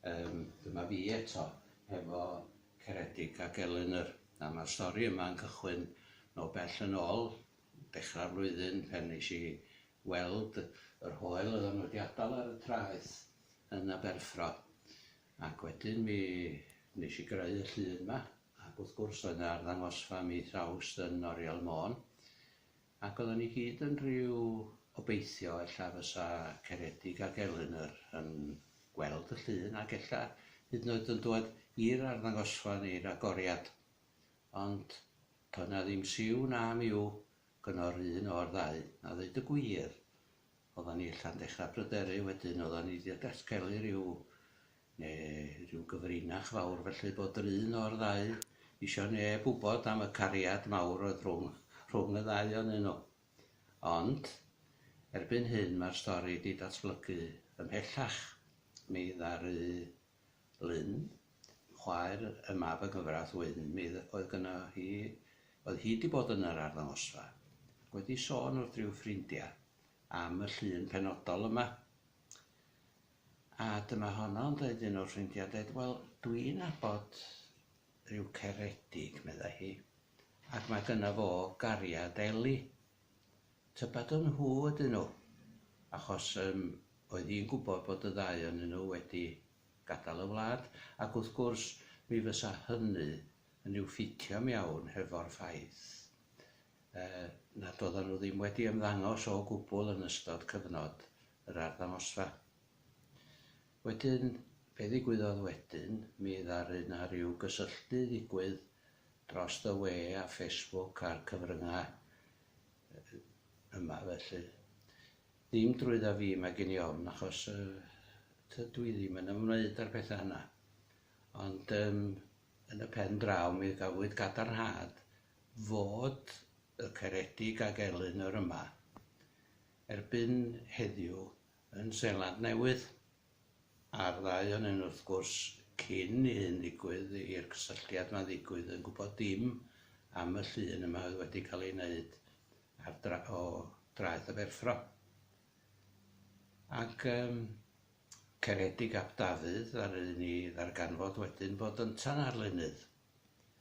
Yym, dyma fi eto, hefo Ceredig ac Elinor. A ma'r stori yma yn cychwyn nôl bell yn ôl, dechra'r flwyddyn, pan nesh i weld yr hoel oeddan nw 'di adal ar y traeth yn Aberffro. Ac wedyn mi nesh i greu y llun 'ma, ac wrth gwrs roedd 'na arddangosfa mis Awst yn Oriel Môn, Ac oedden ni gyd yn rhyw obeithio ella fysa Ceredig ac Elinor yn gweld y llun ac ella hyd yn oed yn dwad i'r arddangosfa neu'r agoriad. Ond to' na ddim siw na miw gyno'r un o'r ddau. A ddeud y gwir, oeddan ni ella'n dechra pryderu wedyn, oeddan ni 'di datgelu rhyw Ne' ryw gyfrinach fawr felly bod yr un o'r ddau isio neb wbod am y cariad mawr oedd rhwng rhwng y ddau o'nyn nhw. Ond, erbyn hyn mae'r stori 'di datblygu ymhellach. Mi ddaru Lynn, chwaer y mab yng nghyfraith Wyn, mi oedd gynno hi, oedd hi 'di bod yn yr arddangosfa, wedi sôn wrth ryw ffrindia am y llun penodol yma. A dyma honno yn deud un o'r ffrindiau, deud, wel, dwi'n abod rhyw Ceredig, meddai hi, ac mae gynno fo gariad Eli. Tybed o nhw ydyn nhw? Achos yym, oedd hi'n gwybod bod y ddau onyn nhw wedi gadael y wlad, ac wrth gwrs, mi fysa hynny yn i'w ffitio'm iawn hefo'r ffaith yy nad oeddan nhw ddim wedi ymddangos o gwbl yn ystod cyfnod yr arddangosfa. Wedyn, be ddigwyddodd wedyn, mi ddaru 'na ryw gysylltu ddigwydd dros y we a Facebook a'r cyfryngau yma felly. Ddim drwydda fi mae gen i ofn achos yy tydw i ddim yn ymwneud â'r pethau yna. Ond yym yn y pen draw mi gafwyd gadarnhad fod y Ceredig ag Elinor yma erbyn heddiw yn Seland Newydd, a'r ddau ohonyn nhw wrth gwrs, cyn i hyn ddigwydd, i'r cysylltiad 'ma ddigwydd, yn gwybod dim am y llun yma oedd wedi cael ei wneud ar dra- o draeth y Ferffro. Ac um, Ceredig ap Dafydd ddaru ni ddarganfod wedyn bod yntan ar lunydd.